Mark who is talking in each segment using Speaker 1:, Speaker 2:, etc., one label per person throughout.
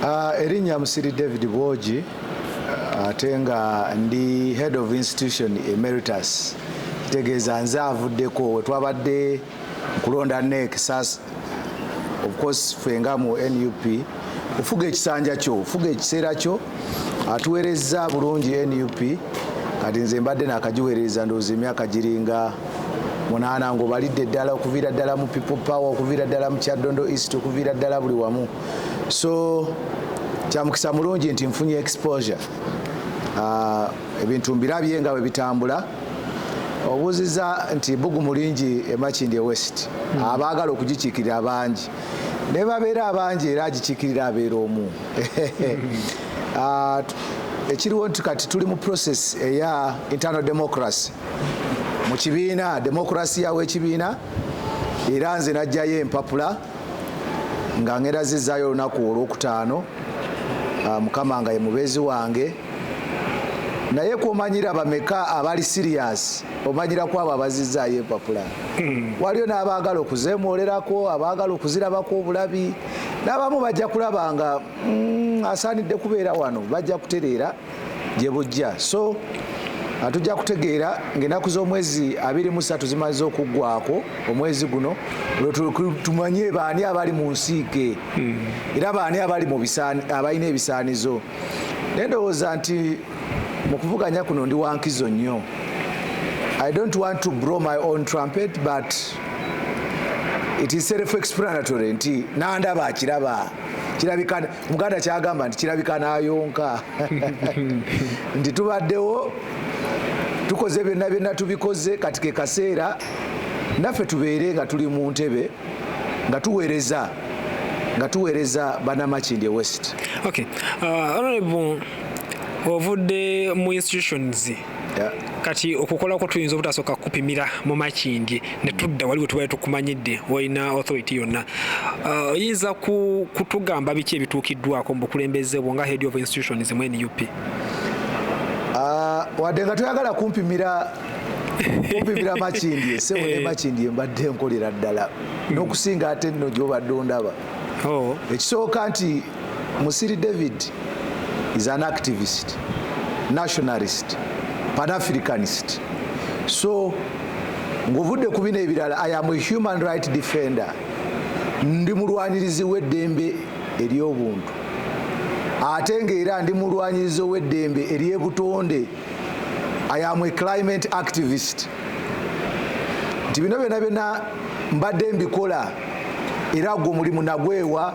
Speaker 1: Uh, erinnya musiri david bwogi uh, ate uh, nga ndi head of institution emeritus kitegeeza nze avuddeko wetwabadde nkulonda nek sas of course fenga mu nup ofuga ekisanja kyo ofuga ekiseera kyo atuwerezza bulungi nup kati nze mbadde nakagiweereza ndowooza emyaka giringa munaana ngaobalidde ddala okuviira ddala mu people power okuviira ddala mu kyaddondo east okuviira ddala buli wamu so kyamukisa mulungi nti nfunye exposure ah, ebintu mbirabye nga bwe bitambula obuuziza nti bugumu lingi emakindi e west hmm. abaagala okugikiikirira abangi naye babeera abangi era agikiikirira abeera omu Ah, ekiriwo nti kati tuli mu process eya internal democracy mu kibiina democracy yawo ekibiina era nze najjayo empapula nga ngera zizaayo olunaku olwokutaano ah, mukama nga ye mubeezi wange naye kwomanyira bameka abali sirias omanyira kwabo abazizaayo empapula hmm. waliyo n'abaagala okuzemwolerako abaagala okuzirabako obulabi n'abamu bajja kulaba nga mm, asaanidde kubeera wano bajja kutereera gye bujja so Ah, tujja kutegeera ngaenaku z'omwezi abiri mu satu zimaze okuggwako omwezi guno tumanye baani abali mu nsiike hmm. era baani abali abalina ebisaanizo naye ndowooza nti mu kuvuganya kuno ndi wankizo nnyo i don't want to bro my own trumpet but it is self explanatory nti nandaba akiraba kirabika muganda kyagamba nti kirabika nayonka nti tubaddewo tukoze byonna byonna tubikoze kati ke kaseera naffe tubeere nga tuli mu ntebe nga tuweereza nga tuweereza banamakindye west okay.
Speaker 2: uh, ovudde mu institutions
Speaker 1: kati okukola
Speaker 2: kwo tuyinza obutasooka kukupimira mu makindye ne tudda wali wetubale tukumanyidde walina authority yonna uh, oyinza uh, kutugamba biki ebituukiddwako mu bukulembeze bwo nga head of institutions mu nup uh, wadde nga toyagala kumpimira kumpimira makindye sebo ne eh. makindye mbadde nkolera ddala hmm. n'okusinga ate nno gyobadde ondaba oh. ekisooka nti Musiri David is an activist, nationalist, pan-Africanist. So, nguvudde ku bino ebirala, I am a human right defender. Ndi mulwanirizi w'eddembe ery'obuntu. Ate ng'era ndi mulwanirizi w'eddembe ery'ebutonde. I am a climate activist. Nti bino byona byona mbadde mbikola era gwo mulimu nagwewa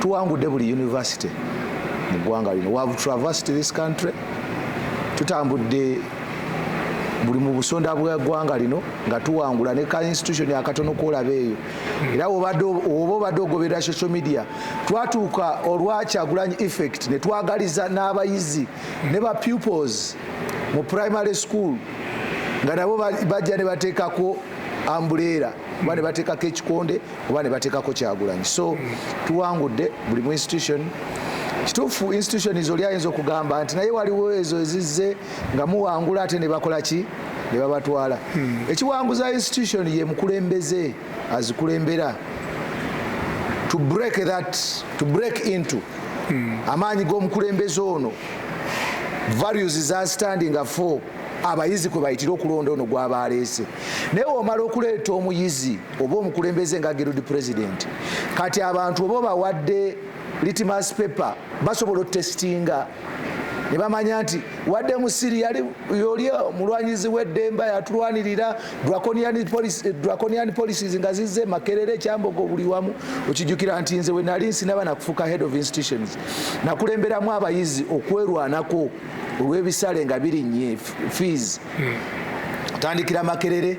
Speaker 2: tuwangudde buli university mu ggwanga lino we have traversed this country tutambudde buli mu busonda bw'eggwanga lino nga tuwangula ne ka institution akatono kwolaba eyo era oba obadde ogoberera social media twatuuka olwakyagulanyi effect ne twagaliza n'abayizi ne ba pupils mu primary school nga nabo bajja ne bateekako ambuleera oba ne bateekako ekikonde oba ne bateekako kyagulanyi so tuwangudde buli mu institution kituufu institution zoli ayinza okugamba nti naye waliwo ezo ezizze nga muwangula ate ne bakola ki ne babatwala hmm. ekiwanguza institution ye mukulembeze azikulembera to break that to break into hmm. amaanyi g'omukulembeze ono values za standing afo abayizi kwe bayitira okulonda ono gwaba aleese naye womala okuleeta omuyizi oba omukulembeze nga gerudi president kati abantu oba bawadde litmas paper basobola otestinga nebamanya nti wadde musiri yoli omulwanyizi weddemba yatulwanirira draconian eh, policies nga zizze makerere ekyambogo buli wamu okijukira nti nze wenali nsinaba nakufuka head of institutions nakulemberamu abayizi okwerwanako olwebisale nga birinnye fees hmm. tandikira makerere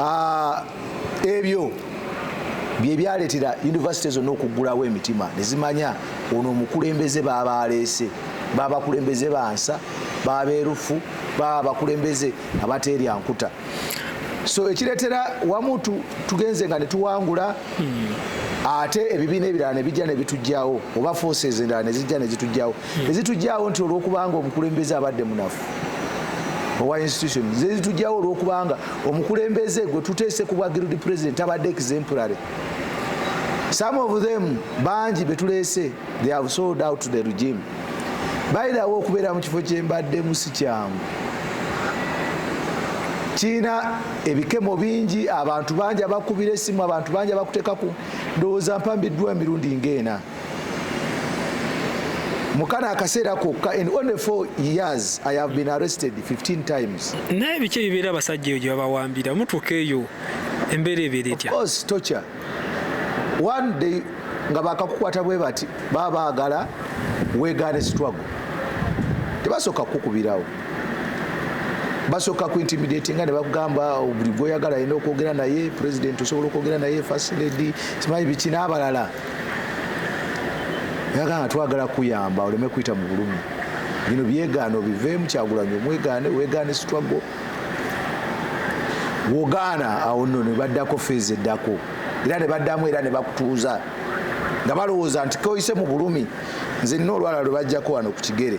Speaker 1: ah, ebyo byebyaletera yunivasite zonna okuggulawo emitima nezimanya ono omukulembeze baba aleese baba bakulembeze bansa baba berufu baba bakulembeze abateerya nkuta so ekiretera wamu tugenze nga netuwangula ate ebibiina ebirala nebijja nebitujjawo oba forces endala nezijja nezitujjawo nezitujjawo nti olwokubanga omukulembeze abadde munafu owa institution zezitujjawo olwokubanga omukulembeze gwe tuteese ku bwa guild president tabadde exemplary some of them bangi betuleese they have sold out the regime bayirawo okubeera mu kifo kyembaddemu si kyangu kiina ebikemo bingi abantu bangi abakubira esimu abantu bangi abakutekaku ndowooza mpambiddwa emirundi ngaena mukana akaseera kokka in only 4 years i have been arrested 15 times naye biki ebibeera
Speaker 3: abasajja eyo gyebabawambira mutuuka eyo embeera ebeera etya course tocha
Speaker 1: one day nga bakakukwata bwe bati baba baagala wegaane sitwago tebasooka kukukubirawo basooka kuintimidati nga nebakugamba oh, buli gwoyagala alina okwogera naye president osobola okwogera naye fasiledi simanyi biki n'abalala yagamba twagala kuyamba oleme kuyita mu bulumi bino byegaano biveemu kyagulanyi omwegaane wegaane sitwago wogaana awo nno ne baddako feezi eddako era ne baddamu era ne bakutuuza nga balowooza nti koyise mu bulumi nze nna olwala lwe bajjako wano ku kigere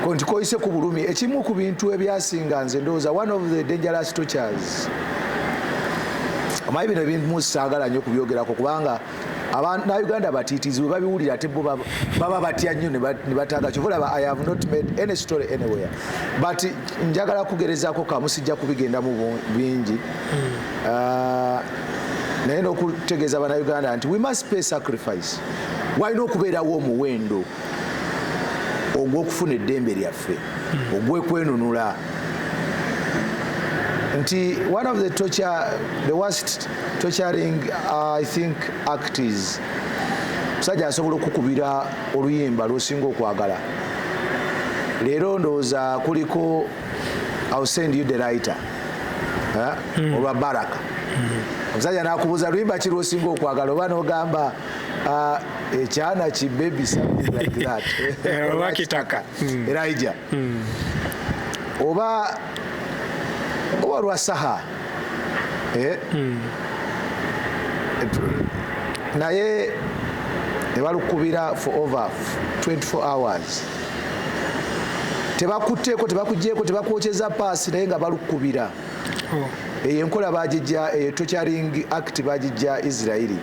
Speaker 1: ko nti koyise ku bulumi ekimu ku bintu ebyasinga nze ndowooza one of the dangerous tortures omanyi bino ebintu saagala nnyo kubyogerako kubanga abanauganda batiitizi bwe babiwulira ate bo baba batya nnyo ne bataaga kyova olaba i have not made any story anywhere but njagala kugerezaako kamu sijja kubigendamu bingi hmm. ah, naye n'okutegeeza banauganda nti we must pay sacrifice walina okubeerawo omuwendo ogw'okufuna eddembe lyaffe hmm. ogw'ekwenunula nti one of the torture the worst torturing uh, i think act is musajja asobola okukubira oluyimba lwosinga okwagala leero ndowooza kuliko ill send you the writer eh? hmm. olwa baraka hmm. omusajja nakubuza luyimba ki lwosinga okwagala oba nogamba Ah, ekyana ki baby something like that oba kitaka
Speaker 3: hmm. elija
Speaker 1: hmm. oba oba lwa saha eh? hmm. naye nebalukubira for over 24 hours tebakutteeko tebakugyeko tebakwokyeza paasi naye nga balukubira oh. eyo enkola bagijja eyo tocaring act bagijja israeli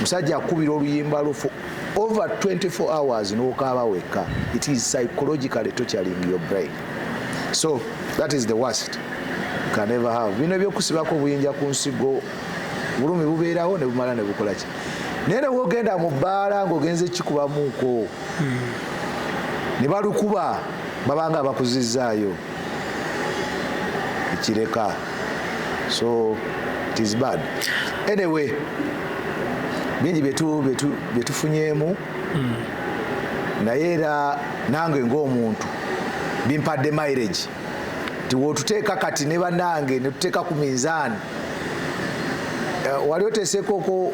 Speaker 1: musajja akubira oluyimba lufu over 24 hours nokaaba wekka it is psychologically tocaring your brain so that is the worst can ever have bino ebyokusibako obuyinja ku nsigo bulumi bubeerawo ne bumala ne bukola ki naye ne wogenda mu bbaala ng'ogenze kikubamuuko hmm. ne balukuba babanga abakuzizzaayo ekireka so it is bad anyway bingi byetufunyeemu hmm. naye era nange ngaomuntu bimpadde mileage nti wotuteeka kati ne banange netuteeka ku minzaani eh, wali oteeseekoko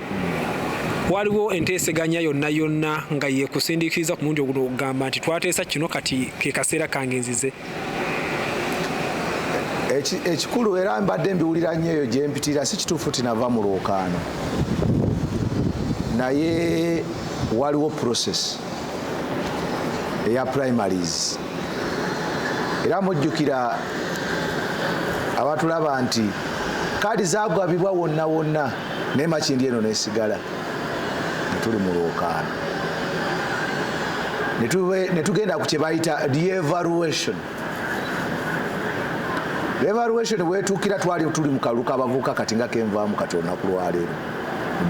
Speaker 3: waliwo enteeseganya yonna yonna nga yekusindikiriza ku mundi oguno okugamba nti twateesa kino kati ke kaseera kange nzize
Speaker 1: ekikulu era mbadde mbiwulira nnyo eyo gyempitira si kituufu tinava mu lwokaano naye waliwo process eya primaries era mujjukira abatulaba nti kaadi zagwabibwa wonna wonna naye makindi eno nesigala netuli mu lwokaano netugenda ku kyebayita reevaluation reevaluation wetuukira twali tuli mu kalulu kabavuuka kati nga kenvaamu kati olunaku lwaleero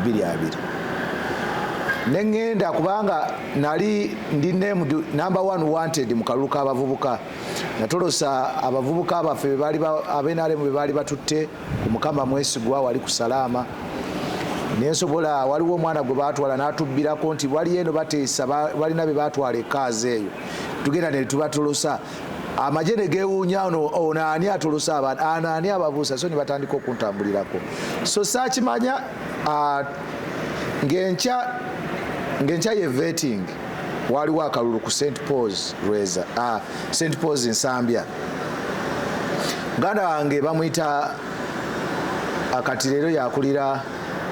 Speaker 1: bbiri abiri neŋŋenda kubanga nali ndi named number one wanted mu kalulu k'abavubuka natolosa abavubuka baffe abenaremu be baali batutte ku mukama mwesigwa wali ku salaama nensobola waliwo omwana gwe batwala natubbirako nti waliyo eno bateesa balina be batwala ekaazi eyo tugenda ne tubatolosa amagye ne gewuunya ono ono ani atolosa abantu ano ani ababuusa so ne batandika okuntambulirako so saakimanya ngenkya ngenkya ye vetting waliwo akalulu ku st pauls lweza st pauls nsambya muganda wange bamuyita akati leero yakulira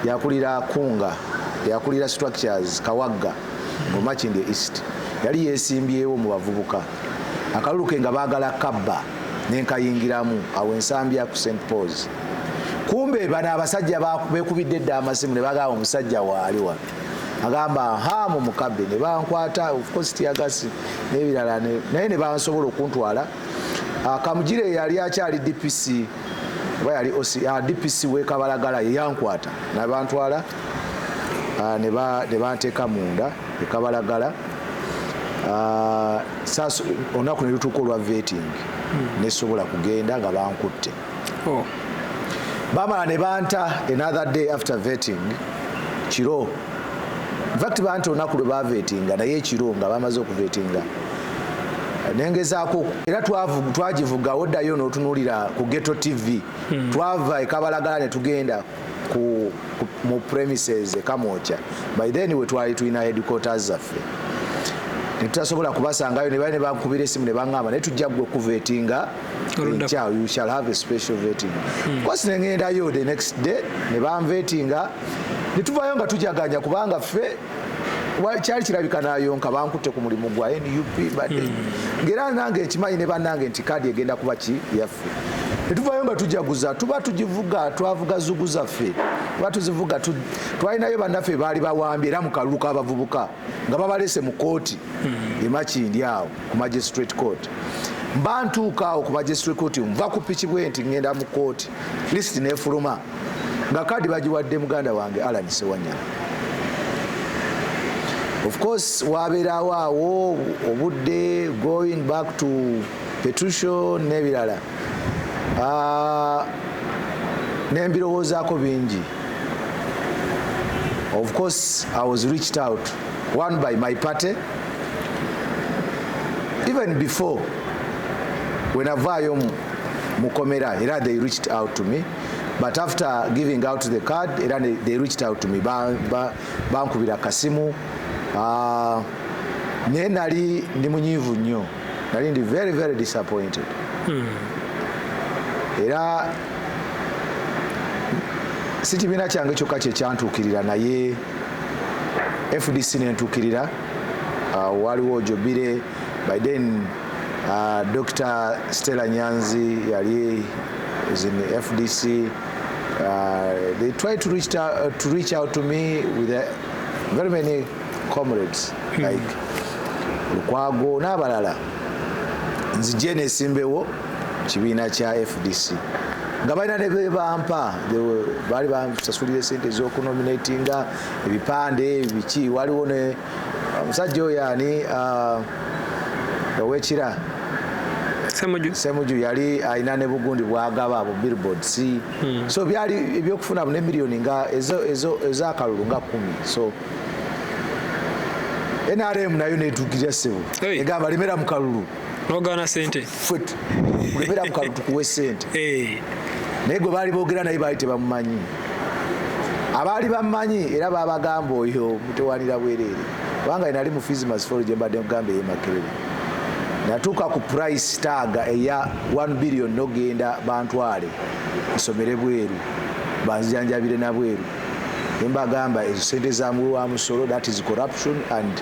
Speaker 1: yakulira kunga yakulira structures kawagga mumakindi east yali yesimbyewo mu bavubuka akalulu ke nga baagala kabba nenkayingiramu awo ensambya ku st pauls kumbe bano abasajja bekubidde dda amasimu ne bagaba omusajja waali wano agamba ha mu mukabe ne bankwata ofcourse tiyagasi n'ebirala naye ne bansobola okuntwala ah, kamugire yali akyali dpc oba yali ah, dpc wekabalagala yeyankwata nabantwala ah, ne banteeka munda ekabalagala olunaku ne lutuuka olwa veting hmm. nesobola kugenda nga bankutte oh. bamala ne banta another day after vetting kiro infact banta olunaku lwe bavetinga naye ekiro nga bamaze okuvetinga nengezaako era twagivuga oddayo notunulira ku geto tv hmm. twava ekabalagala netugenda ku, ku, mu premises ekamwokya by then wetwali tulina headquarters zaffe netutasobola kubasangayo nebali nebankubira esimu nebangamba naye tujja gwe kuvetinga enkya you shall have a special vetting hmm. kosi nengendayo the next day ne banvetinga ne tuvayo nga tujaganya kubanga ffe kyali kirabika nayonka bankutte ku mulimu gwa nup badde hmm. ngaera nange nkimanyi ne banange nti kaadi egenda kuba ki yaffe netuvayo nga tujaguza tuba tugivuga twavuga zugu zaffe tuba tuzivuga twalinayo bannaffe baali bawambye era mu kalulu k'abavubuka nga babalese mu kooti hmm. emakindi awo ku magistrate court mba ntuuka awo ku magistrate court nva ku piki bwe nti ngenda mu kooti list nefuluma nga kadi bagiwadde muganda wange alan sewanyana of course wabeerawo awo obudde going back to petution nebirala ah, nembirowoozaako bingi of course i was reached out one by my party even before wenavaayo mukomera era they reached out to me but after giving out the card era they reached out to me bankubira ba, ba kasimu uh, naye nali ndi munyiivu nnyo nali ndi very very disappointed hmm. era si kibiina kyange kyokka kyekyantuukirira naye fdc nentuukirira uh, waliwo jobire by then uh, dr stella nyanzi yali is in the fdc uh, they tried to reach, out, uh, to reach out to me with a, uh, very many comrades hmm. like lukwago n'abalala nzije nesimbewo kibiina kya fdc nga balina ne bebampa baali bansasulira esente ezokunominatinga ebipande biki waliwo ne omusajja uh, oyo ani uh, owekira semuju yali alina ne bugundi bwagaba bu billboards hmm. so byali ebyokufuna ne millioni nga ezakalulu nga kumi so nrm nayo netukirya sebo egamba lemera mukalulu nogana sente
Speaker 3: fwet lemera
Speaker 1: mukalulu tukuwe sente naye gwe baali bogera naye baali tebamumanyi abaali bamumanyi era babagamba oyo mutewanira bwereere kubanga enali mu fismas folo gyembadde kugamba eyemakerere natuuka ku price taaga eya 1 billion nogenda bantwale nsomere bweru banzijanjabire nabweru nembagamba ezo sente zamuwe wa musolo that is corruption and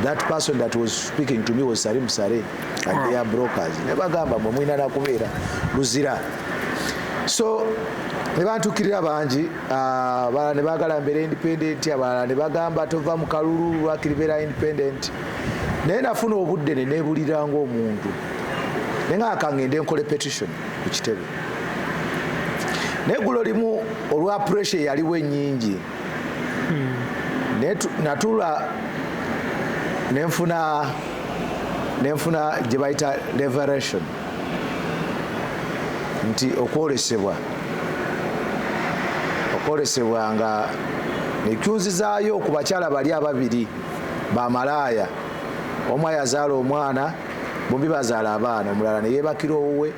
Speaker 1: that person that was speaking to me was sari musare and they are brokers nebagamba mwe mulina nakubeera luzira so nebantukirira bangi ah, abalala nebagala mbeera independent abalala nebagamba tova mu kalulu lwakiri beera independent naye nafuna obudde nenebulira ngaomuntu naye nga kangende nkole petition ku kitebe naye gulo limu olwa pressure yaliwo enyingi hmm. natula nenfuna nenfuna gyebayita leveration nti okwolesebwa okwolesebwa nga nekyunzizaayo ku bakyala bali ababiri bamalaaya omu ayazaala omwana bombi bazaala abaana omulala neyebakira owuwe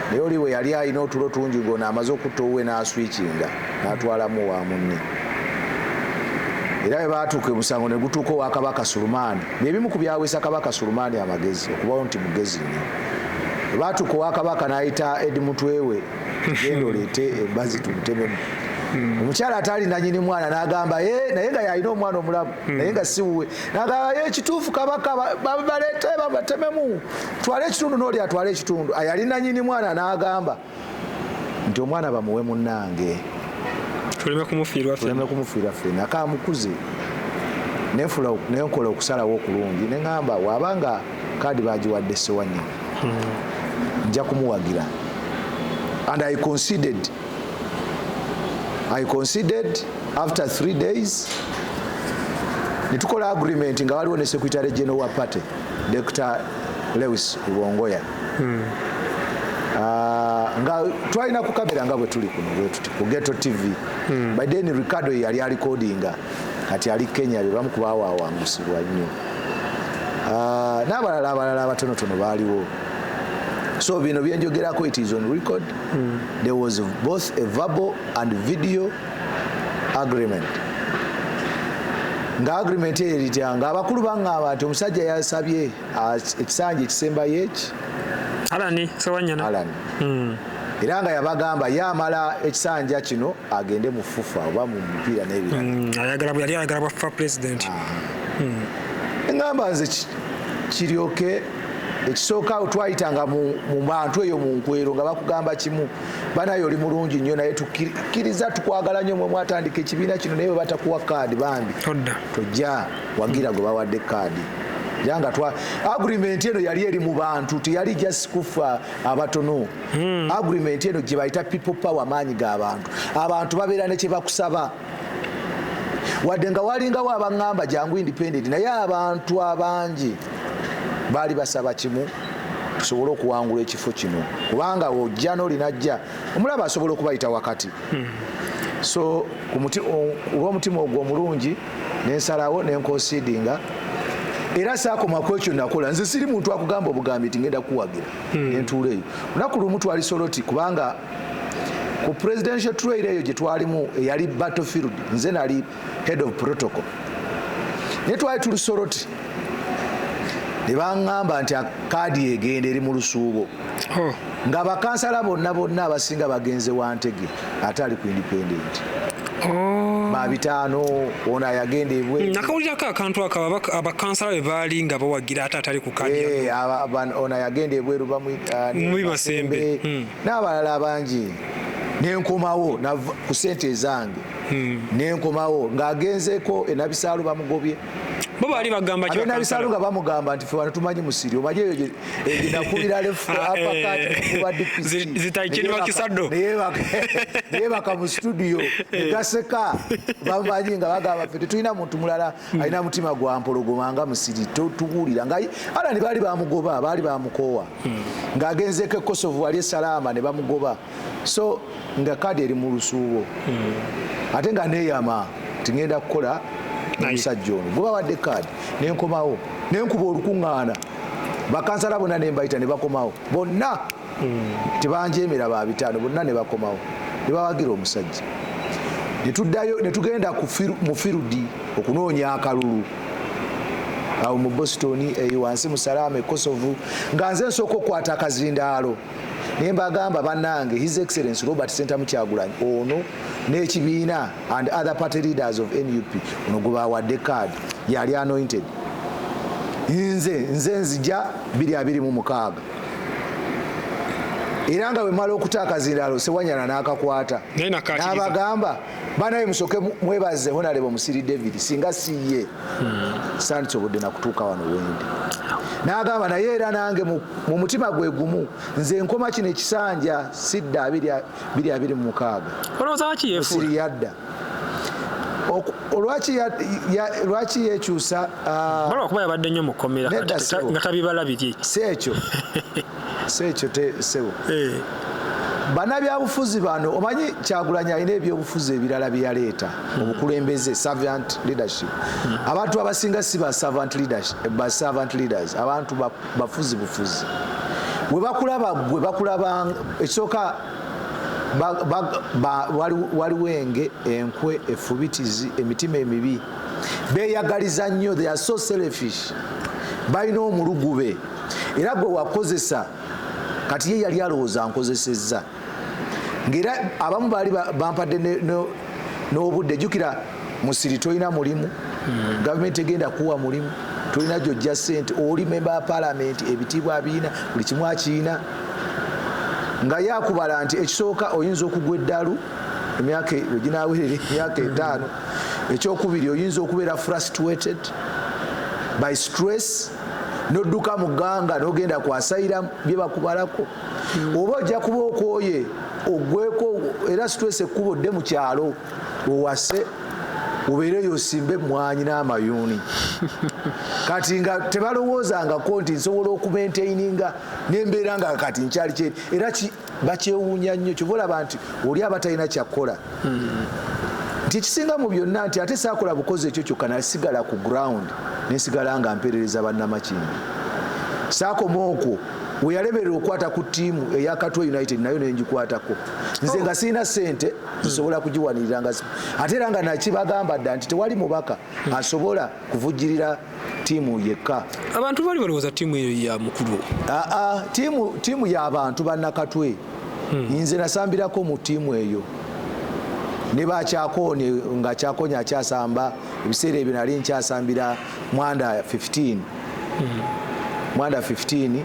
Speaker 1: naye oli we yali alina otulo tungi gona amaze okutta owuwe n'aswikinga n'atwalamu wa munne era bwe baatuuka omusango ne gutuuka owa kabaka sulumaani byebimu ku byawesa kabaka sulumaani amagezi okubawo nti mugezi nnyo bwe baatuuka owa kabaka n'ayita edi mutwewe genda oleete embazi tumutememu hmm. omukyala ataali nanyini mwana nagamba eh, naye nga yalina omwana omulamu hmm. naye nga siwuwe nagamba ekituufu eh, kabaka baleete babatememu twala ekitundu nooli atwala ekitundu ayali nanyini mwana nagamba nti omwana bamuwe munange tuleme kumufiirwa fena kamukuze nenkola okusalawo okulungi neŋamba wabanga kaadi bagiwadde sewanya hmm. nja kumuwagira and i considered i considered after three days netukola agreement nga waliwo ne secretary general wa party Dr. Lewis Lubongoya hmm. ah, nga twalina ku kamera nga bwe tuli kuno bwe tuti ku Ghetto TV hmm. by then Ricardo yali alikodinga kati ali Kenya be bamu kubawaawangusibwa nnyo ah, n'abalala abalala abatonotono baaliwo so bino byenjogerako it is on record hmm. there was both a verbal and video agreement nga agreement eyo eritya nga abakulu baŋŋamba nti omusajja yasabye ekisanja ekisembayo eki alani sewanyana alani hmm. era nga yabagamba ye amala ekisanja kino agende mu fufa oba mu mupiira n'ebirayali ayagala bwafa
Speaker 3: president ah. hmm.
Speaker 1: eŋŋamba nze kiryoke ekisooka twayitanga mu bantu eyo mu nkwero nga bakugamba kimu banaye oli mulungi nnyo naye tukkiriza tukwagala nnyo mwe mwatandika ekibiina kino naye webatakuwa kaadi bambi tojja wagira gwe bawadde kaadi yanga twa agreement eno yali eri mu bantu teyali just kufa abatono hmm. agreement eno gye bayita people power maanyi ga bantu abantu babeera ne kye bakusaba wadde nga walingawo abaŋŋamba jangu independent naye abantu abangi baali basaba kimu tusobole okuwangula ekifo kino kubanga ojja nolinajja omulaba asobola okubayita wakati hmm. so olwomutima ogwo omulungi nensalawo nenkonsidinga era sakoma kwekyo nakola nze siri muntu akugamba obugambi nti ngenda kuwagira hmm. entuula eyo lunaku lumu twali soloti kubanga ku presidential trail eyo gye twalimu eyali battlefield nze nali head of protocol naye twali tuli soroti ne baŋŋamba nti kaadi egenda eri mu lusuubo oh. nga bakansala bonna bonna abasinga bagenze wantege ate ali ku independent oh. babitaano ono ayagenda ebwe hmm, nakawulirako akantu ako
Speaker 3: abakansala be baali nga bawagira ate atali ku kadi eh, ono ayagenda
Speaker 1: ebweru bamuibasembe
Speaker 3: n'abalala
Speaker 1: bangi nenkomawo ku sente ezange hmm. nenkomawo ng'agenzeko enabisaalu bamugobye bo baali
Speaker 3: bagamba ki abena bisalu nga bamugamba
Speaker 1: nti fubana tumanyi musiri omaje eyo nakubira lefu apa kati kuba dipisi zitaikini bakisado
Speaker 3: naye
Speaker 1: baka mu studio egaseka bamanyi nga bagamba fete tulina muntu mulala hmm. alina mutima gwa mpologoma nga musiri tuwulira nga alani baali bamugoba baali bamukoowa hmm. ng'agenzeeko ekosovu wali esalaama ne bamugoba so nga kaadi eri mu lusuubo hmm. ate nga neeyama tingenda kukola omusajja ono guba wadde kaadi nenkomawo nenkuba olukuŋŋaana bakansala bonna nembayita ne bakomawo bonna hmm. tebanjeemera ba bitaano bonna ne bakomawo ne bawagira omusajja ne tuddayo ne tugenda mu firudi okunoonya akalulu awo mu boston eyo wansi mu salaama ekosovu nga nze nsooka okukwata akazindaalo naye mbagamba bannange his excellence robert sentamu kyagulanyi ono n'ekibiina and other party leaders of nup ono gwebawadde card yali anointed nze nze nzija 226 era nga wemala okuta akazindalo sewanyana nakakwata nabagamba banaye musoke mwebaze honalebo musiri david singa siye hmm. sandisobodde nakutuuka wano wendi nagamba naye era nange mu mutima gwe gumu nze nkoma kino ekisanja sidda biri abiri mumukaaga siri yadda olwaki lwaki yekyusa ah, bala okuba yabadde
Speaker 3: nnyo mukomera nga tabibala biri si ekyo
Speaker 1: si ekyo sebo eh. banabyabufuzi bano omanyi kyagulanyi alina ebyobufuzi ebirala byeyaleeta hmm. obukulembeze servant leadership hmm. abantu abasinga si ba servant leaders abantu bafuzi bufuzi webakulaba gwe bakulaba ekisooka waliwo enge enkwe efubitizi emitima emibi beyagaliza nnyo they are so selfish balina omulugube era gwe wakozesa kati ye yali alowooza nkozesezza ngaera abamu baali bampadde n'obudde jukira musiri tolina mulimu gavumenti egenda kuwa mulimu tolina gyojja sente oli memba wa palamenti ebitiibwa abiina buli kimu akiina nga yakubala nti ekisooka oyinza okugwa eddalu emyaka e, weginawerera emyaka etaano ekyokubiri oyinza okubeera frustrated by stress nodduka mu gganga nogenda kwasayira bye bakubalako oba ojja kuba okwoye ogweko era situesa ekkubo dde mu kyalo wewase obeereyo osimbe emmwanyi n'amayuuni kati nga tebalowoozangako nti nsobola okumentaininga nembeera nga kati nkyali kye era bakyewuunya nnyo kyova olaba nti oli aba talina kyakukola nti ekisinga mu byonna nti ate saakola bukozi ekyo kyokka nasigala ku ground nesigala nga mpeerereza bannamakindi saakoma okwo weyalemerera okukwata ku tiimu eyakatwa united nayo nenjikwatako nze nga sirina sente zisobola kugiwanirira nga ate era nga nakibagamba dda nti tewali mubaka asobola kuvujjirira tiimu yekka abantu bali balowooza
Speaker 3: tiimu eyo ya mukulu aa
Speaker 1: tiimu y'abantu bannakatwe hmm. nze nasambirako mu tiimu eyo ne bakyakoone nga kyakonya akyasamba ebiseera ebyo nali nkyasambira mwanda 15 hmm. mwanda 15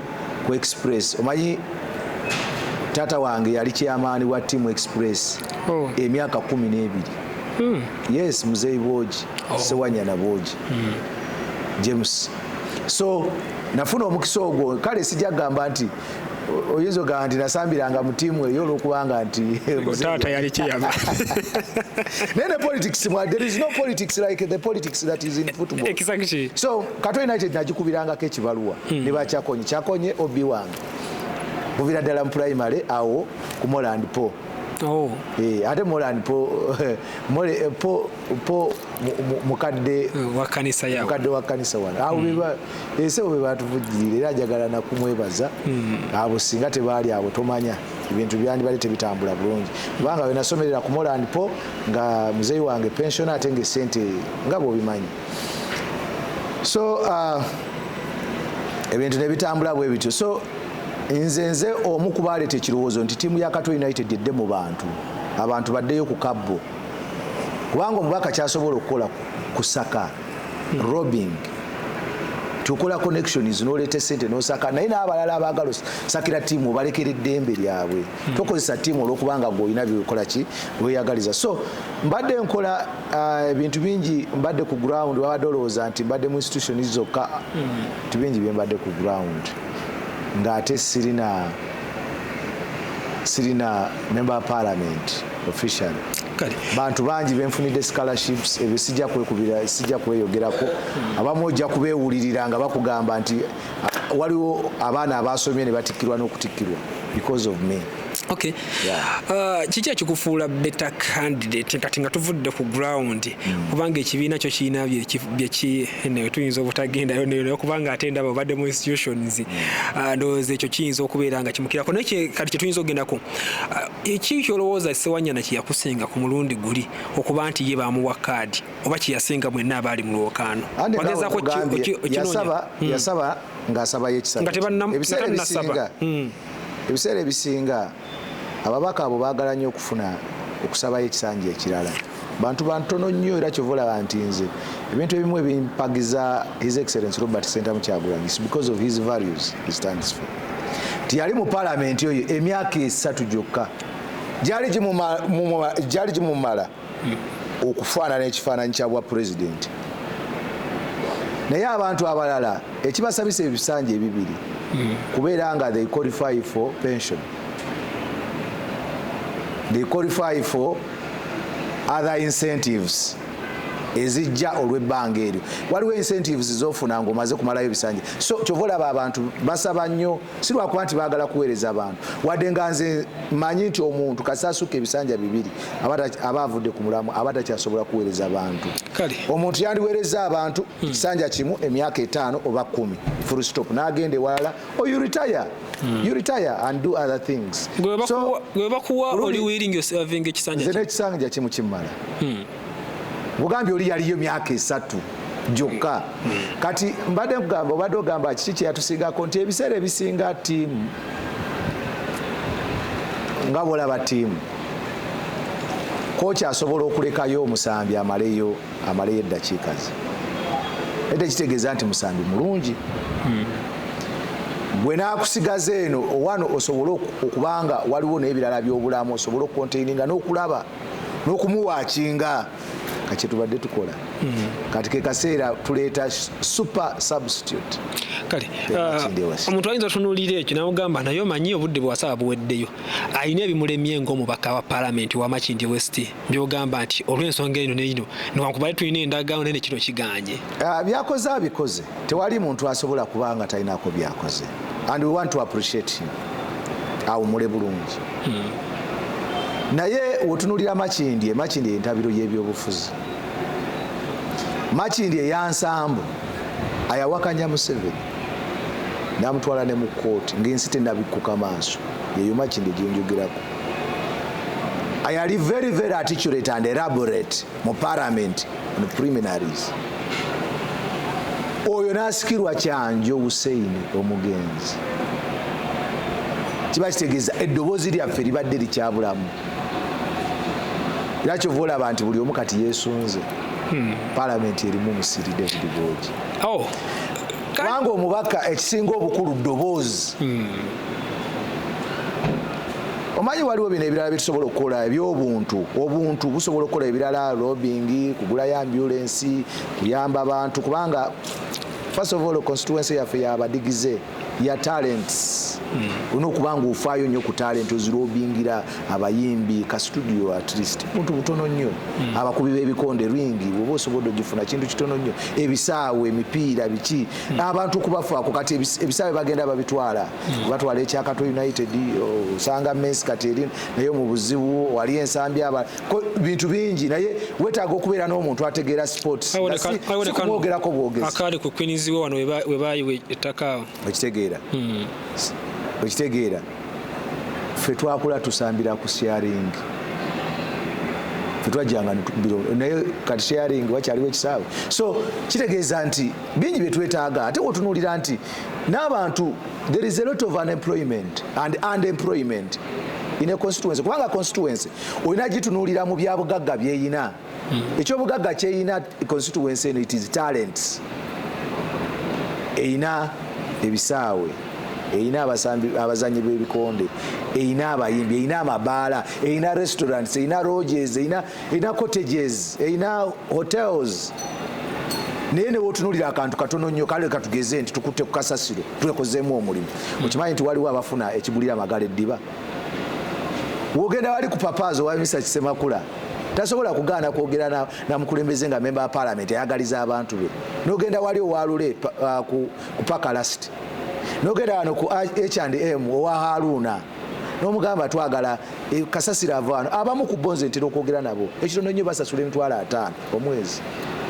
Speaker 1: ku express omanyi taata wange yali kyamaani wa team express oh. emyaka kumi n'ebiri hmm. yes muzeyi bwogi oh. sewanyana bwogi hmm. james so nafuna omukisa ogwo kale sijagamba nti oyinza ogamba nti nasambiranga mu tiimu eyo olwokubanga nti taata yali kiyaba naye ne politics mwa there is no politics like the politics that is in football exactly so
Speaker 3: kato united
Speaker 1: nagikubirangako ekibaluwa hmm. ne bakyakonye kyakonye obi wange muvira ddala mu primary awo ku moland po oh. eh, ate moland po mole eh, po po mukadde eh, wa kanisa
Speaker 3: yawo mukadde wa kanisa wana awo
Speaker 1: hmm. ensi abo bebatuvujjirira era njagala nakumwebaza hmm. abo singa tebaali abo tomanya ebintu byandibadde tebitambula bulungi kubanga wenasomerera ku moland po nga muzeeyi wange pensiona ate nga esente nga bwobimanyi so uh, ebintu nebitambula bwe bityo so nze nze omu kubaleeta ekirowoozo nti tiimu ya kato united edde mu bantu abantu baddeyo ku kabbo kubanga omubaka kyasobola okukola kusaka robbing tukola connections noleeta sente nosaka naye n'abalala abaagala sakira tiimu obalekera eddembe lyabwe hmm. tokozesa tiimu olwokubanga gwe olina byekola ki weyagaliza so mbadde nkola uh, ebintu bingi mbadde ku ground babadde olowooza nti mbadde mu institution zokka hmm. bintu bingi byembadde ku ground ng'ate sirina sirina member parliament officially bantu bangi benfunidde scholarships ebyo sijja kwekubira sijja kweyogerako abamu ojja kubeewulirira nga bakugamba nti ah, waliwo abaana abaasomye ne batikkirwa n'okutikkirwa because of me okay
Speaker 3: uh, kiki ekikufuula better candidate kati nga tuvudde ku ground hmm. kubanga ekibiina kyo kirina byekinewe tuyinza obutagendayo naye kubanga ate ndaba obadde mu institutions hmm. uh, ndowooza ekyo kiyinza okubeera nga kimukirako naye kati kyetuyinza okugendako uh, Eki kyolowooza Ssewanyana kye yakusinga ku mulundi guli okuba nti ye baamuwa kaadi oba kye yasinga mwenna abaali mu lwokaano? Anti naawe Wagezaako ki- nkugambye, oki- okinoonya? yasaba
Speaker 1: Hmm. yasaba ng'asabayo ekisatu Nga kye. tebanna- nga ebiseera tannasaba. ebisinga Hmm. ebiseera ebisinga ababaka abo baagala nnyo okufuna okusabayo ekisanja ekirala bantu bantono nnyo era kyova olaba nti nze ebintu ebimu ebimpagiza his excellence robert sentamu kyagulanyi is because of his values he stands for nti yali mu palamenti oyo emyaka esatu gyokka gyali gimumala okufaanana ekifaananyi kya bwa pulezidenti naye abantu abalala ekibasabisa ebisanja ebibiri hmm. kubeera nga they qualify for pension they qualify for other incentives ezijja olwebbanga eryo waliwo incentives zofuna nga omaze kumalayo ebisanja so kyova olaba abantu basaba nnyo si lwakuba nti bagala kuweereza abantu wadde nga nze manyi nti omuntu kasasuka ebisanja bibiri aba avudde ku mulamu aba takyasobola kuweereza bantu omuntu yandiweereza abantu hmm. ekisanja kimu emyaka etaano oba kumi full stop nagenda ewalala oyo oh, retire mm. you retire and do other things so webakuwa
Speaker 3: oli willing yourself inge kisanja zene kisanja kimu
Speaker 1: kimala mm. bugambi oli yaliyo myaka esatu jokka mm. mm. kati mbade kugamba obade ogamba kiki kyeyatusingako nti ebiseera ebisinga tiimu nga bolaba tiimu koki asobola okulekayo omusambi amaleyo amaleyo eddakiika ze naye tekitegeeza nti musambi mulungi hmm. gwe nakusigaza eno owano osobole okubanga waliwo n'ebirala byobulamu osobole okukonteininga n'okulaba n'okumuwakinga kakyetubadde tukola hmm. kati kekaseera tuleeta super substitute kale
Speaker 3: uh, omuntu ayinza otunulira ekyo namugamba naye omanyi obudde bwewasaba buweddeyo alina ebimulemye ngaomubaka wa palamenti wamakindi west byogamba nti olw'ensonga eno neino newankubadde tulina endagaano naye nekino kiganye ah, byakoze
Speaker 1: abikoze tewali muntu asobola kuba nga talinako byakoze and we want to appreciate him awumule bulungi hmm. naye wotunulira makindi emakindi entabiro y'ebyobufuzi makindi eyansambu ayawakanya museveni namutwala ne mu kooti ngaensi tenabikkuka maaso yeyo makindi gyenjogerako ayali very very articulate and elaborate mu parliament on preliminaries oyo nasikirwa kyanjo hussein omugenzi kiba kitegeeza eddoboozi lyaffe libadde likyabulamu era kyova olaba nti buli omu kati yesunze hmm. palamenti erimu musiri david bogi oh. kubanga omubaka ekisinga obukulu ddoboozi hmm. omanyi waliwo bino ebirala byetusobola okukola ebyobuntu obuntu busobola okukola ebirala robing kugulayo ambulensi kuyamba abantu kubanga first of all constituency yaffe yabadigize ya talents hmm. olina okuba nga ofaayo nnyo ku talent ozirobingira abayimbi ka studio at least buntu butono nnyo hmm. abakubi b'ebikonde ringi oba osobodde ogifuna kintu kitono nnyo ebisaawo emipiira biki abantu kubafaako kati ebisaawe bagenda babitwala batwala ekyakato united osanga mes kati eri naye mu buzibu wali ensambi aba bintu bingi naye wetaaga okubeera n'omuntu ategeera sportsmwogerako bwogezakaali ku kwiniziwe wano
Speaker 3: webayiwa ettaka okitegeera hmm.
Speaker 1: okitegeera fe twakula tusambira ku sharing fetwajjanga naye kati sharing wakyaliwo ekisaawe so kitegeeza nti bingi bye twetaaga ate wotunuulira nti n'abantu there is a lot of unemployment and unemployment in a constituency kubanga constituency olina gitunuulira mu byabugagga byeyina hmm. ekyobugagga kyeyina constituency eno it is talents eyina ebisaawe eyina abazanyi b'ebikonde eyina abayimbi eyina amabaala eyina restaurants eyina roges eyina erina cottages erina hotels naye newotunulira akantu katono nnyo kale katugeze nti tukutte ku kasasiro twekozeemu omulimu okimanyi nti waliwo abafuna ekigulira amagala eddiba wogenda wali ku papaazi owa misa kisemakula tasobola kugaana kwogera namukulembeze nga memba wa palamenti ayagaliza abantu be nogenda wali owalule uh, ku pakalasiti nogenda wano ku h and m owa haruuna nomugamba twagala e, kasasira avaano abamu ku bonze ntera okwogera nabo ekitono nnyo basasula emitwalo ataano omwezi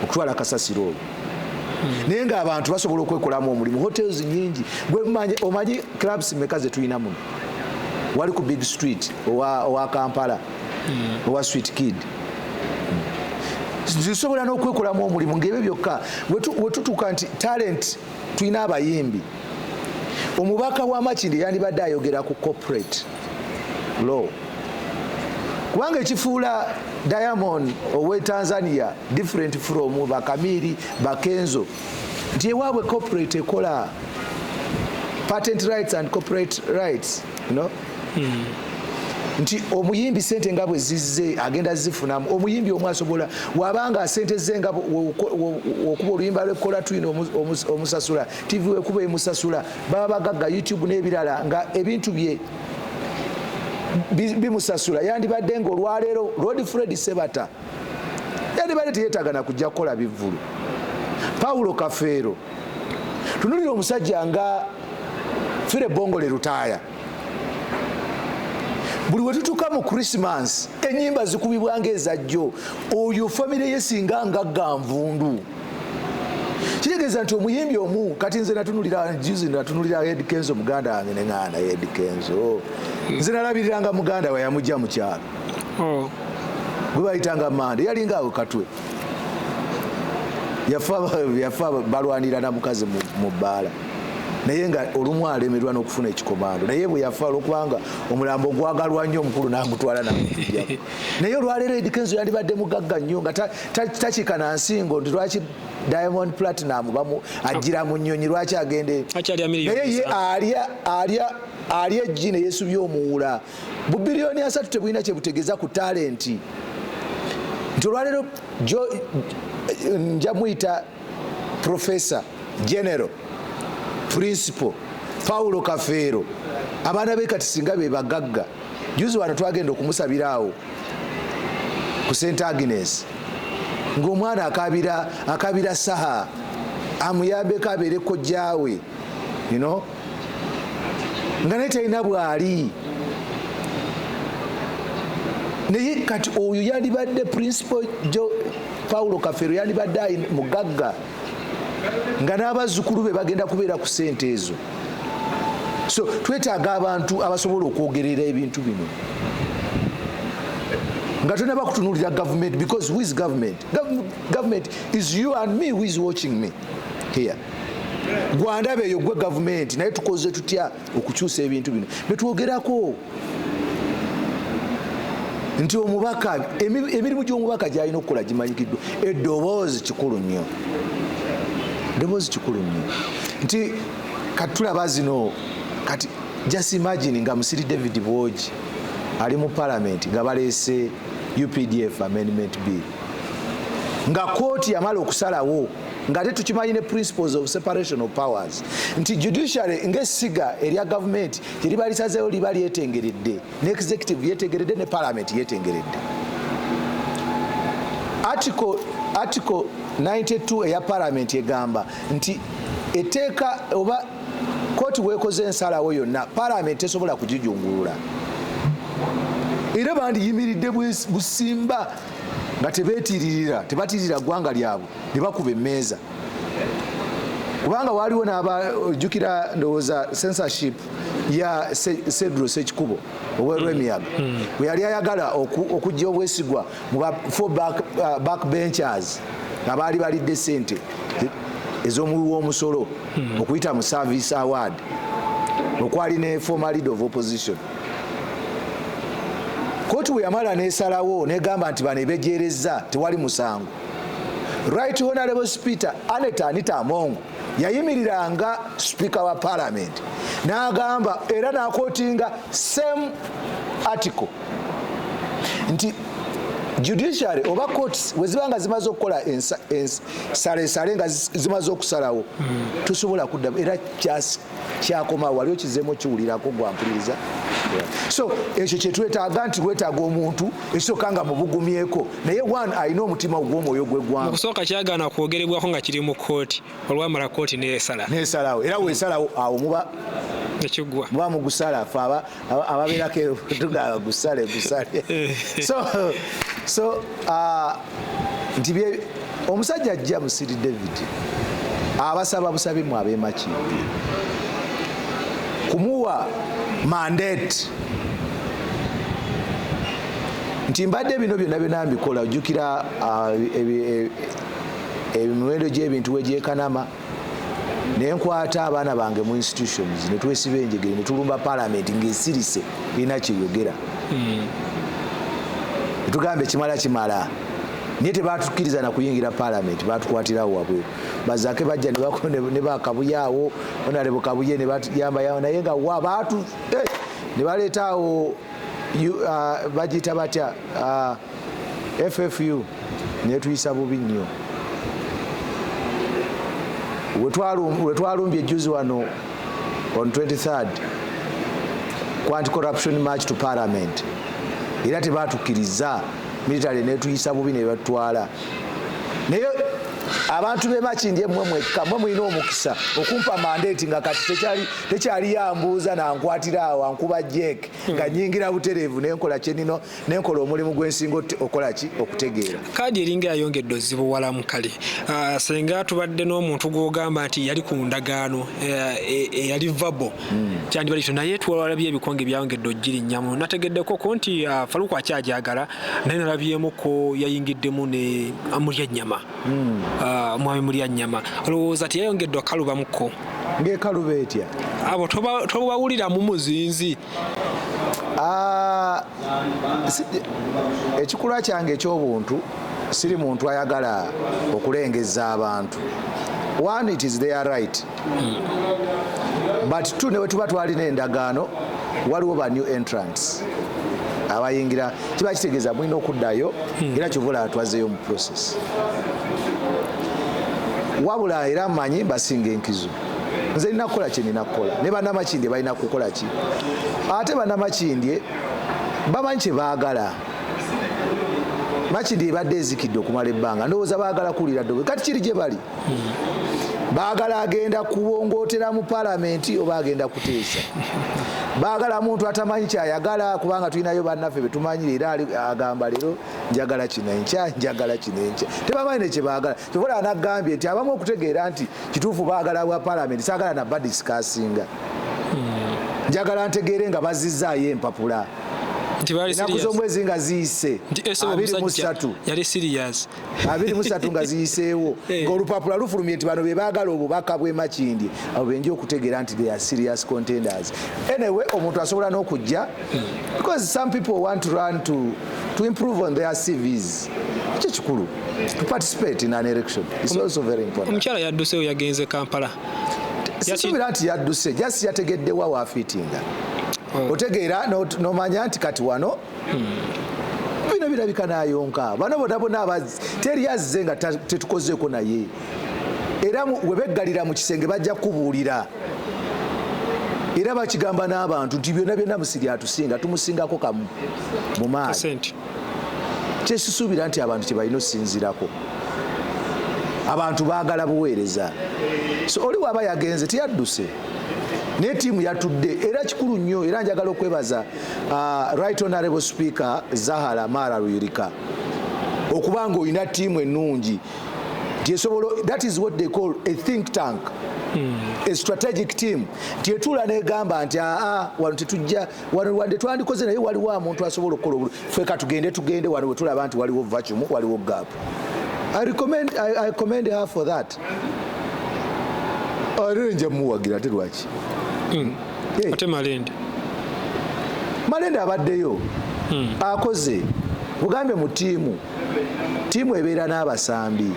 Speaker 1: okutwala kasasira oyo hmm. naye nga abantu basobola okwekolamu omulimu hotels nyingi omanyi clubs meka zetulina muno wali ku big street owa, owa kampala hmm. owa sweet kid zisobola n'okwekolamu omulimu ngaebyo byokka wetutuuka nti talent tulina abayimbi omubaka wa makindi yandibadde ayogera ku corporate law kubanga ekifuula diamond owe tanzania different from bakamiri bakenzo nti ewaabwe corporate ekola patent rights and corporate rights you know? nti omuyimbi sente nga bwe zizze agenda zifunamu omuyimbi omu asobola wabanga sente ze nga okuba oluyimba lwekola tulina omusasula tv wekuba emusasula baba bagagga youtube n'ebirala nga ebintu bye bimusasula yandibadde nga olwaleero lord fred sebata yandibadde teyetaaga na kujja kukola bivvulu pawulo kafeero tunulira omusajja nga fire bongole lutaaya buli wetutuka mu christmas enyimba zikubibwa nga ezajjo oyo famire ye singa ngagga nvundu kitegeeza nti omuyimbi omu kati nze natunulira juzi natunulira ed kenzo muganda wange neŋana ed kenzo nze nalabiriranga muganda we yamujja mukyalo oh. gwe bayitanga mande yalinga awe katwe yafa balwanira na mukazi mu bbaala naye nga olumu alemerwa n'okufuna ekikomando naye bwe yafa olwokubanga omulambo ogwagalwa nnyo omukulu n'agutwala namutujjako naye olwaleero edikenzo yandibadde mugagga nnyo nga takika na nsingo nti lwaki diamond platinum bamu ajjira mu nnyonyi lwaki agende naye ye alya alya alya ejji ne yeesubye omuwula bubiriyoni asatu tebulina kye butegeeza ku talenti nti olwaleero nja muyita professor general principal paulo kafeero abaana be kati singa be bagagga juzi wano twagenda okumusabira awo ku st agnes ngaomwana akabira akabira saha amuyambeko abeere kojjaawe you know? nga naye talina bwali naye kati oyo yalibadde principal jo paulo kafero yalibadde mugagga nga n'abazzukulu be bagenda kubeera ku sente ezo so twetaaga abantu abasobola okwogerera ebintu bino nga tolina bakutunulira government because who is government government is you and me who is watching me here gwandaba eyo gwe gavumenti naye tukoze tutya okukyusa ebintu bino betwogerako nti omubaka emirimu gy'omubaka gyalina okukola gimanyikiddwa edoboozi kikulu nnyo edoboozi kikulu nnyo nti kati tulaba zino kati just imagine nga musiri david bwogi ali mu palamenti nga baleese updf amendment bill nga kooti yamala okusalawo nga te tukimanyi ne principles of separation of powers nti judiciary ng'essiga erya gavumenti teriba lisazeewo liba lyetengeredde ne executive yetegeredde ne parliament yetengeredde article, article 92 eya parliament egamba nti eteeka oba kooti wekoze ensalawo yonna parliament tesobola kugijungulula era bandiyimiridde busimba nga tebetiririra tebatiririra ggwanga lyabwe ne bakuba emmeeza kubanga waaliwo nabaojjukira ndowooza censorship ya sedro sekikubo owerwemiyaga mm. mm. bwe yali ayagala okujja obwesigwa mu fo back uh, benchers abaali balidde sente ez'omuwi w'omusolo mm. okuyita mu service award okwali ne former leader of opposition kooti bwe yamala nesalawo negamba nti bano ebejerezza tewali musango Right Honorable Speaker Aneta Anita Among yayimiriranga Speaker wa Parliament n'agamba era n'akotinga same article nti judiciary oba courts weziba nga zimaze okukola ensalesale nga zimaze okusalawo hmm. tosobola kuddamu era kyasi kyakoma wali okizemu okiwulirako gwampuliriza so ekyo kyetwetaaga nti wetaaga omuntu ekisooka nga mubugumyeko naye one alina omutima ogwomwoyo gwegwanga okusooka kyagaana
Speaker 3: kwogerebwako nga kiri mu kooti olwamala kooti nesala nesalawo era
Speaker 1: wesalawo awo muba ekigwa muba mugusala fe aba ababeerako tugamba gusale gusale eh. so so uh, nti bye omusajja ajja musiri david abasaba busabi mu abemakimbi kumuwa mandate nti mbadde bino byonna byona mbikola ojjukira uh, e, e, emiwendo gy'ebintu wegyekanama naye nkwata abaana bange mu institutions ne twesiba enjegere ne tulumba palamenti ng'esirise erina kyeyogera hmm. etugamba ekimala kimala naye tebatukkiriza na kuyingira palamenti batukwatirawo wabwe bazake bajja ne bakabuyaawo onalebo kabuye ne batuyambayawo naye nga wa batu eh, ne baleetaawo uh, bagiyita batya uh, ffu netuyisa bubi nnyo wetwalumbye ejuzi wano on 23 quanti corruption march to parliament era tebatukiriza military netuyisa bubi nebatwala naye abantu bemakindye mwe mwekka mwe mulina omukisa okumpa mandate nga kati tekyali tekyaliyo ambuuza nankwatira awo ankuba jek hmm. nga nyingira butereevu nenkola kyenino nenkola omulimu gwensinga okola ki okutegeera kaadi eringa yayongedde
Speaker 3: ozibuwalamu kale ah, senga tubadde n'omuntu gwogamba nti yali ku ndagaano eh, eh, eyali vabo hmm. kyandibali kyo naye twalabye ebikonge byayongedde ogirinyamu nategeddeko ko nti ah, faluku akyajagala naye nalabyemuko yayingiddemu ne amulya ennyama hmm. ah, omwami mulya nyama olowooza tiyayongedde okalubamuko ngaekaluba
Speaker 1: etya abo
Speaker 3: tobawulira mu muzinzi ah,
Speaker 1: ekikula kyange ekyobuntu siri muntu ayagala okulengeza abantu one it is their right but tu newetuba twalina endagaano waliwo ba new entrants abayingira kiba kitegeeza mulina okuddayo hmm. era kyovola atwazeyo mu process wabula era manyi basinga enkizo nze nina kukola kyenina kukola ne banamakindye balina kukola ki ate banamakindye bamanyi kyebaagala makindye ebadde ezikidde okumala ebbanga ndowooza baagala kuwulira dobe kati kiri gye bali bagala agenda kuwongootera mu palamenti oba agenda kuteesa bagala muntu atamanyi kyayagala kubanga tulinayo bannaffe betumanyire era agamba leero njagala kino enkya njagala kino enkya tebamanyi nekyebagala kyobola anagambye nti abamu okutegeera nti kituufu bagala bwa palamenti sagala nabadisikasinga hmm. njagala ntegeere nga bazizaayo empapula enaku zomwezi nga ziyise abiri musatu yali serious
Speaker 3: abiri musatu nga
Speaker 1: ziyiseewo eh. ng'olupapula lufulumye nti bano be baagala obubaka bw'e makindye abo benja okutegeera nti they are serious contenders anyway omuntu asobola n'okujja because some people want to run to, to improve on their cvs ekyo kikulu to participate in an election is also very important omukyala yadduseewo yagenze
Speaker 3: kampala sisuubira
Speaker 1: nti yadduse just yategeddewa waafiitinga oh. otegeera nomanya nti kati wano bino birabika nayonka bano bonabona abazi teri azze nga tetukozeeko naye era webeggalira mu kisenge bajja kubuulira era bakigamba n'abantu nti byonna byonna musiri atusinga tumusingako kamu mu maaso kyesisuubira nti abantu kyebalina osinzirako abantu baagala buweereza so oli waaba yagenze teyadduse naye tiimu yatudde era kikulu nnyo era njagala okwebaza uh, right honorable speaker zahara mara luyirika okuba nga olina tiimu ennungi gyesobola that is what they call a think tank hmm. a strategic team tyetula negamba nti aa ah, ah, wano tetujja wano wande twandikoze naye waliwo amuntu asobola okukola obulu fe katugende tugende wano wetulaba nti waliwo vacumu waliwo gap I recommend, I, I commend her for that. Arere nja muwagira ate lwaki? Mm.
Speaker 3: Hey. Ate Malende.
Speaker 1: Malende abaddeyo. Mm. Akoze. Ugambe mu tiimu. Tiimu ebeera n'abasambi.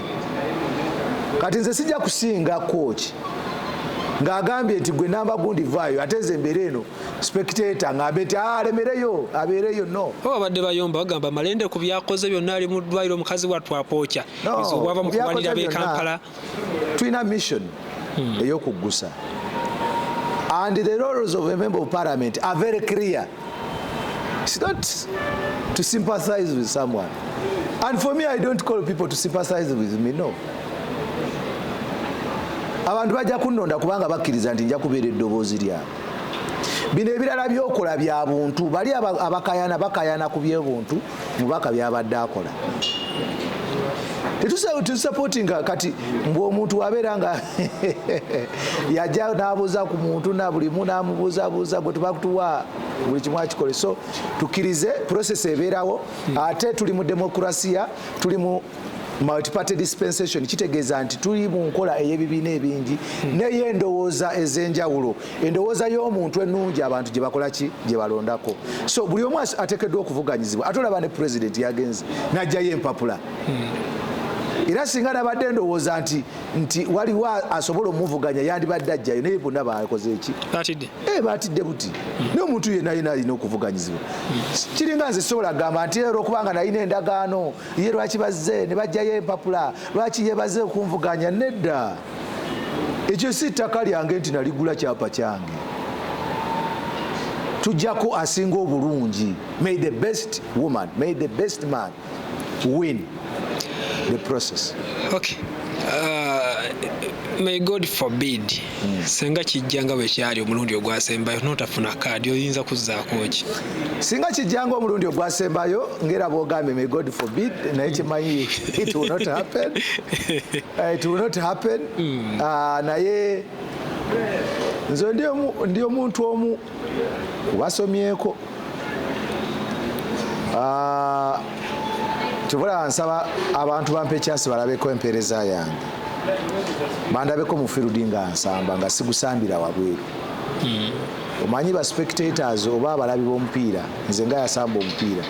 Speaker 1: Kati nze sijja kusinga kooki ng'agambye nti gwe namba gundi vaayo ate nze embeera eno spectator ng'ambe nti ah, alemereyo abeereyo no oba abadde bayomba bagamba
Speaker 3: malende ku byakoze byonna ali mu ddwaliro omukazi watwapookya ezo obwava mu kulwanirira b'e Kampala. Tulina
Speaker 1: mission hmm. ey'okuggusa and the roles of a member of parliament are very clear. It's not to sympathize with someone. And for me, I don't call people to sympathize with me, no. abantu bajja kunnonda kubanga bakkiriza nti nja kubeera eddoboozi lyabwe bino ebirala byokola bya buntu bali abakayana bakayana ku byebuntu mubaka byabadde akola tetusapotinga kati mbwe omuntu wabeera nga yaja nabuuza ku muntu nabulimu namubuuzabuuza gwe tubakutuwa buli kimu akikole so tukkirize process ebeerawo ate tuli mu demokrasiya tuli mu multiparty dispensation kitegeeza nti tuli mu nkola ey'ebibiina ebingi hmm. naye endowooza ez'enjawulo endowooza y'omuntu ennungi abantu gye bakola ki gye balondako so buli omu ateekeddwa okuvuganyizibwa ate olaba ne president yagenze n'ajjayo empapula hmm. era singa nabadde endowooza nti nti waliwo asobola omuvuganya yandibadde ajjayo naye bonna bakoze eki eh, batidde buti hmm. naye omuntu yenayena alina okuvuganyizibwa kiringa nze sisobola kugamba nti era okubanga nalina endagaano ye lwaki bazze ne bajjayo empapula lwaki yebaze okunvuganya nedda ekyo si ttaka lyange nti naligula kyapa kyange tujjako asinga obulungi may the best woman may the best man win the process okay. uh,
Speaker 3: may god forbid hmm. senga kijja nga bwe kyali omulundi ogwasembayo notafuna kaadi oyinza kuzzaako ki singa kijja
Speaker 1: nga omulundi ogwasembayo ngaera bwogambye may god forbid naye kimanyi it will not happen uh, it will not happen hmm. uh, naye nze ndi omuntu omu kubasomyeko ah, tubula nsaba abantu bampa ekyasi balabeko empeereza yange bandabeko mufirudi nga nsamba nga sigusambira wabweru hmm. omanyi ba spectators oba abalabi b'omupiira nze nga yasamba omupiira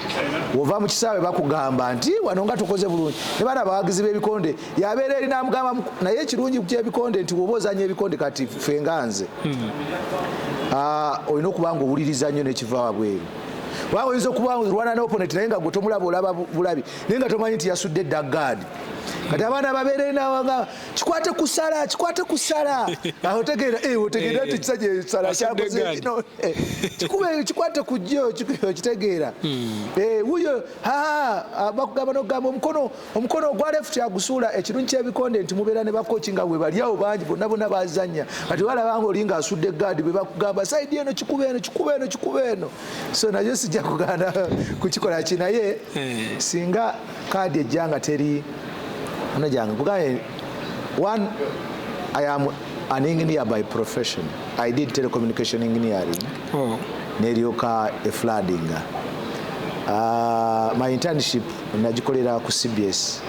Speaker 1: wova mu kisaawe bakugamba nti wano nga tukoze bulungi ne bana abawagizi b'ebikonde yabeera eri namugamba naye ekirungi kyebikonde nti woba ozanya ebikonde kati fe nga nze hmm. ah, olina okuba nga owuliriza nnyo nekiva wabweru kubanga oyinza okuba lwana noponeti naye nga gwe tomulaba olaba bulabi naye nga tomanyi nti yasudde edda gaadi kati abaana babeere nawaga kikwate kusala kikwate kusala otegeera eh, otegeera nti ekisajja eh, esala kyakozeino eh, kikube kikwate kujjo okitegeera hmm. wuyo bakugamba nokugamba omukono omukono ogwa left agusuula ekirungi kyebikonde nti mubeera ne bakoki nga webalyawo bangi bonna bona bazanya kati walabanga oli nga asudde gaadi bebakugamba saidi eno kikuba eno kikuba eno kikuba eno so nayo sijja kugana kukikola ki naye eh. singa kaadi ejja nga teri ono gyange kugaye one i am an engineer by profession i did telecommunication engineering oh. neryoka efladinga uh, ah, my internship nagikolera ku cbs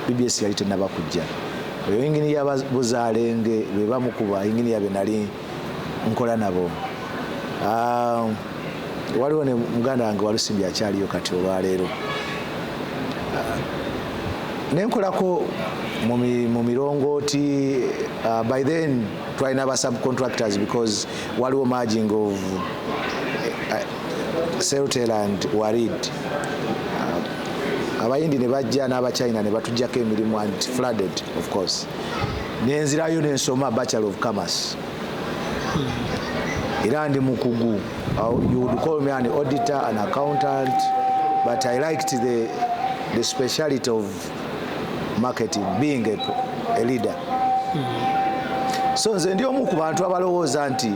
Speaker 1: bbs yali tenaba kujja oyo yinginiya buzalenge bebamu ku bayinginiya be nali nkola nabo ah, waliwo ne muganda wange walusimbi akyaliyo kati olwaleero ah, nenkolako mu mirongooti ah, by then twalina ba subcontractors because waliwo marging of eh, celtel and warid uh, abayindi ne bajja n'abachina ne batujjako emirimu and flooded of course nenzirayo nensoma bachelor of commerce hmm. era ndi mukugu uh, you would call me an auditor an accountant but i liked the, the speciality of marketing being a, a leader mm -hmm. so nze ndi omu ku bantu abalowooza nti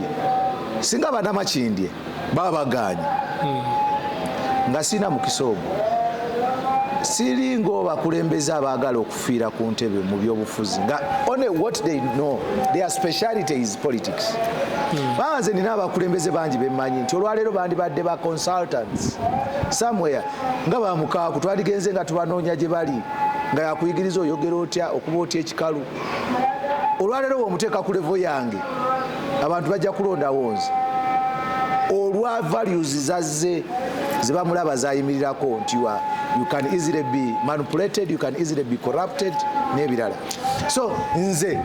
Speaker 1: singa banamakindye baba baganye mm -hmm. nga sirina mukisa ogwo siringa obakulembeze abaagala okufiira ku ntebe mu byobufuzi nga only what they know their speciality is politics hmm. banze nina abakulembeze bangi bemanyi nti olwaleero bandibadde ba consultants somewhere nga ba mukaaku twaligenze nga tubanoonya gye bali nga yakuyigiriza oyogera otya okuba otya ekikalu olwaleero womuteeka ku levo yange abantu bajja kulondawo nze olwa values zazze zebamulaba zayimirirako nti you can easily be manipulated you can easily be corrupted n'ebirala so nze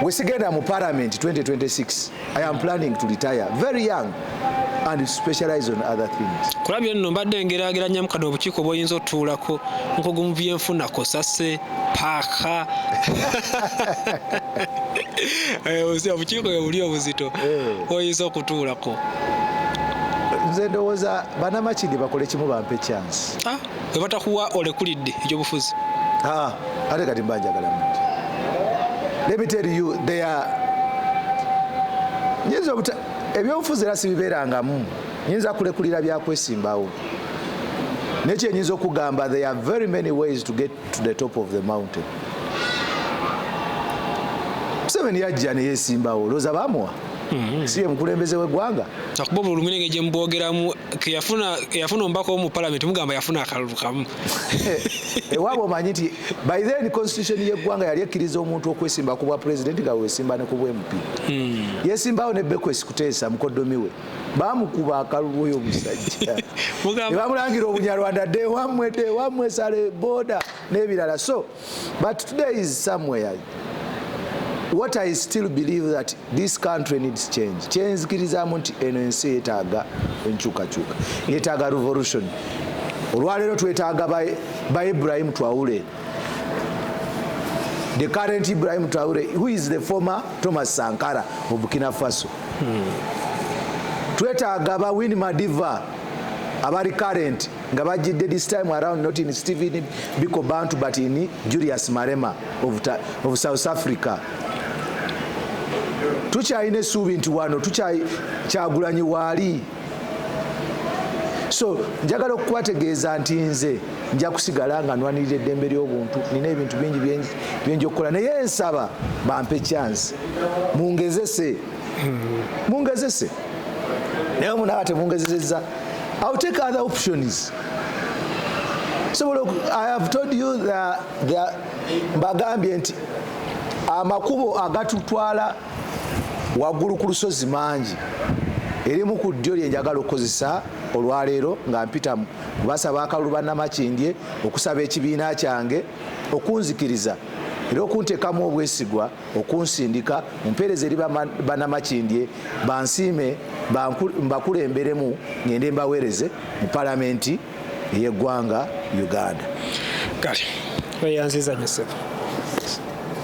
Speaker 1: wesigenda mu parliament 2026 I am planning to retire very young and specialize on other things. Kula byo nno mbadde
Speaker 3: ngeraageranya mu kano obukiiko bw'oyinza otuulako nkugu mu byenfuna kosase paaka eh, obukiiko bwe buli obuzito eh. oyinza okutuulako
Speaker 1: nze ndowooza banamakindi bakole kimu bampe chance ah. webatakuwa
Speaker 3: olekulidde ekyobufuzi ah,
Speaker 1: ate kati mbanjagala muntu let me tell you they are nyinza obuta ebyobufuzi era sibibeerangamu nyinza kulekulira byakwesimbawo naye kyenyinza okugamba there are very many ways to get to the top of the mountain museveni yajja neyesimbawo olowooza bamuwa Mm-hmm. si ye mukulembeze w'eggwanga akuba obulumi nenge
Speaker 3: gye mubwogeramu eyafuna omubaka omu palamenti mugamba yafuna akalulu kamu
Speaker 1: ewaaba omanyi nti by then constitution y'eggwanga yali ekkiriza omuntu okwesimba ku bwa pulezidenti nga wesimba ne ku bwmp mm. yesimbawo ne bekwesi kuteesa mukoddomi we bamukuba akalulu oyo omusajja nebamulangira obunyarwanda dewamwe dewamwe sale boda n'ebirala so But today is somewhere what I still believe that this country needs change. Kyenzikirizamu nti eno ensi yetaaga enkyukakyuka, yetaaga revolution. Olwaleero twetaaga ba Ibrahim Traore, the current Ibrahim Traore who is the former Thomas Sankara of Burkina Faso. Hmm. Twetaaga ba Winnie Madiva abali current nga bajjidde this time around not in Stephen Biko Bantu but in Julius Marema of, of South Africa tukyalina essuubi nti wano tukyagulanyi waali so njagala okubategeeza nti nze nja kusigala nga nwanirira eddembe ly'obuntu nina ebintu bingi byenja okukola naye nsaba bampe chance mungezese mungezese naye omunaba temungezeseza ill take other options sobola i have told you mbagambye nti amakubo agatutwala waggulu ku lusozi mangi erimu ku ddyo lye njagala okukozesa olwaleero nga mpitamu basaba akalulu bannamakindye okusaba ekibiina kyange okunzikiriza era okuntekamu obwesigwa okunsindika mumpeereza eri banamakindye bansiime mbakulemberemu ngende mbaweereze mu palamenti
Speaker 3: ey'eggwanga uganda kale
Speaker 1: weyanziza
Speaker 3: nyo sebo